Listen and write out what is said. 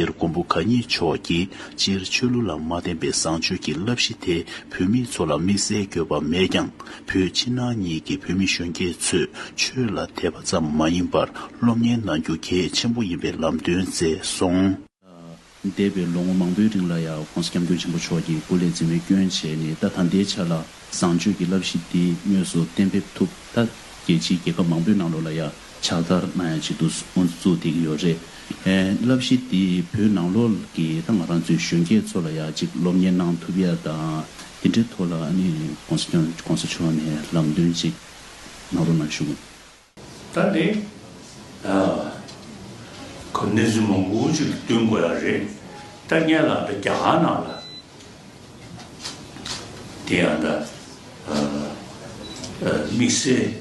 དེར་མགོན་པོ་གང་ཉིད་མཆོག་གིས་སྤྱིར་ཆོས་ལུགས་ལ་མ་བརྟེན་པའི་བཟང་སྤྱོད་ཀྱི་བསླབ་གཞི་དེ་བོད་མི་ཚོ་ལ་དམིགས་བསལ་འགྱོད་པ་མེད་ཀྱང་བོད་ཕྱི་ནང་གཉིས་ཀྱི་བོད་མི་གཞོན་སྐྱེས་ཚོས་ཆོས་ལ་དད་པ་ཙམ་མ་ཡིན་པར་སློབ་གཉེར་གནང་རྒྱུ་གལ་ཆེན་པོ་ཡིན་པའི་ལམ་སྟོན་མཛད་སོང། འདས་པའི་ལོ་ངོ་མང་པོའི་རིང་ལ་ཡང ྋགོང་ས ྋསྐྱབས་མགོན་ཆེན་པོ་མཆོག་གིས་སྐུ་ལས་མཛད་མེད་སྐྱོན་བྱས་ནས་ད་ད་ལྟའི་ཆ་ལ་བཟང་སྤྱོད་ཀྱི་བསླབ་གཞི་འདི་དངོས་སུ་གཏན་འབེབས་ཐུབ་ད་རྒྱལ་སྤྱིའི་རྒྱལ་ཁབ་མང་པོའི་ནང་ལོགས་ལ་ཡང་ཕྱག་བསྟར་གནང་ཡ་ཅིག་འདུག་ཨོ་ཙི་ཙུག་བསྡད་ཀྱི་ཡོད་རེད། བསླབ་གཞི་འདི་བོད་ནང་ལོག་གི་ད་ང་རང་ཚོའི་གཞོན་སྐྱེས་ཚོ་ལ་ཡ་ཅིག་སློབ་གཉེར་གནང་ཐུབ་ཡ་དང་འདི་འདྲའི་ཐོག་ལ་ཨ་ནི་གོང་ས་སྐྱོང་གོང་ས་མཆོག་ནས་ལམ་སྟོན་གཅིག་གནང་རོགས་གནང་ཞུ། ད་ནི་གོ་གནས་ཚུལ་མང་པོ་ཅིག་བསྟུན་དགོས་ཡ་རེད་ད་བརྙན་ལགས་ད་རྒྱ་གར་ནང་ལ་དེ་ཡང་ད་དམིགས་བསལ།